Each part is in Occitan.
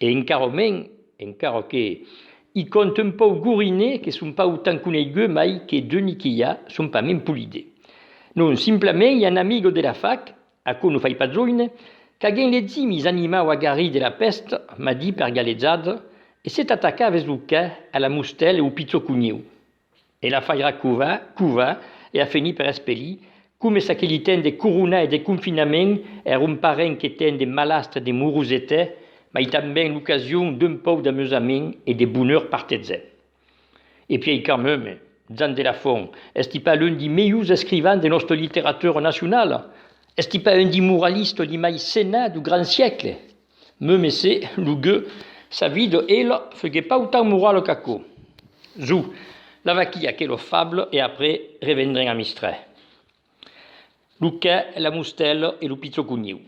E encara men, encara que i cònt un pauc gorine que son pas autant coneiguts mai que Denis Quillat, son pas men polide. Non, simplament i a un amigo de la fac, aquò no fai pas joine, qu'agen le zimis animau a garrir de la pèst, m'a dit per galejada, e s'est atacat ves lo cè a la mustèl e au pichó coniu. E la fairà covar, covar, e a fenir per espelir, coma ça que li ten de corona e de confinament er un parent que ten de malastre de morosete, mai tanben l'ocasion d'un pòu d'amusament e de bonheur partetzè. E piei quand meme, Jan de la Font, esti pas l'un di meius escrivans de nòsta literatura nacionala? Esti pas un di moralista li mai senat du grand siècle? Me messé lo gueux sa vida ela fegué pau tan morala qu'aquò. Zo, la vaquia que lo fable e après revendren a Mistrè. Lo qu'è la mustèla e lo pichó conieu.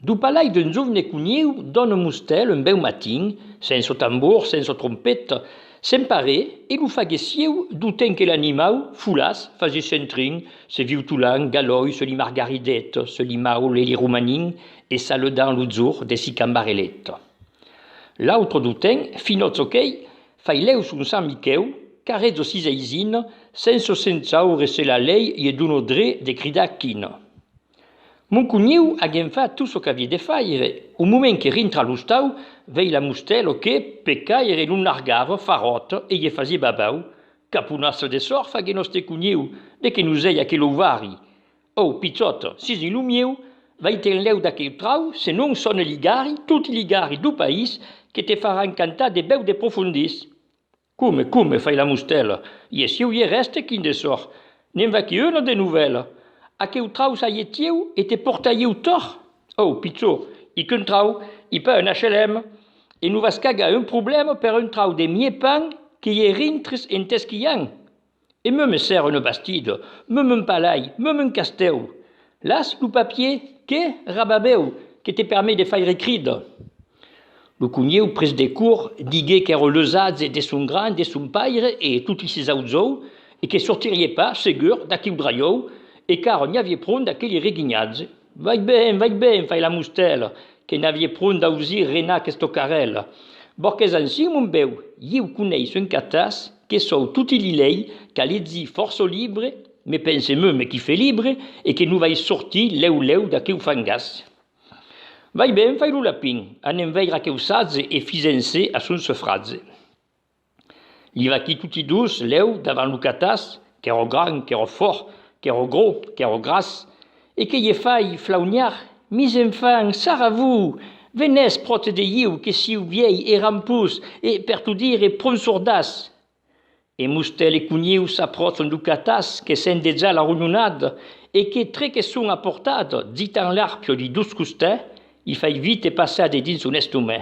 Do palai d'un jovne conieu dòna mustèl un bèu matin, sensa tambor, sensa trompeta, sen paré e lo fagué sieu do temps que l'animau, folaç, fagué sentrin, se viutolan, galòi, se li margaridèt, se li maule, li romanin e saludant lo jorn de si cambarelèt. L'autre du ten finò çò qu'ei fai lèu son Sant Miquèu qu'arrè jo sis eisin senso sensaure se la lei ie dono dré de cridar quin. Mon cogniu a gen fat tot çò qu'avie de faire, au moment que rintra a l'ostau vei la Mustèlo que, pe caire, non largava faròt e ie fasie babau, caponassa de sorfa que nòste cogniu, de que nos ei aquel ouvari! Ò, pichòt, sis di lo mieu, vai-te'n lèu d'aquel trau, se non son e ligari, toti ligari do país, que te faràn cantar de bèu de profondís! Come, come, fai la mustèla, ie sieu ie rèste quin de sòr, ne'n va que una de novèla! Aqueu trau saie tieu e te portaieu tòr! Ò, pichó, i qu'un trau, i pas un HLM! E non vas cagar un problèma per un trau de mié pan que ie rintres en t'esquian! e me mesèr una bastida, me m'un palai, me m'un castèu. Las lo papier que rababèu que te permet de faire crida. Lo conhèu pres de cor, digué qu'èra l'usatge de son gran, de son paire e toti ses auzòu e que sortirie pas, segur, d'aqueu drajòu e qu'ara n'i avié pron d'aqueli reguinhatge. Vai ben, vai ben, fai la mustèla, que n'avie pron d'ausir renar questo carrèl. Borqués ansin, mon bèu, ieu coneisso un catàs que sòu toti li lei, qu'a lezí fòrço libre, me pense mèu me qui fè libre, e que non vai sortir lèu lèu d'aqueu fangàs. Vai ben, fai lo lapin, anem veir aqueu satge e fisèm-se a son sofratge. Li vaquí toti dos, lèu, davant lo catàs, qu'èra grand, qu'èra fòrt, qu'èra grò, qu'èra gras, e que ie fai flauniar, Mis enfants, sarra-vos! Venètz pròte de ieu, que siu vièi e rampós, e, per tot dire, pron sordas! E Mustèl e Coniu s'apròchan lo catàs, que sent dejà la ronhonada, e que, tre que son a portada, ditan l'arpia de dos costè, li fai vite passar de dins son estomè.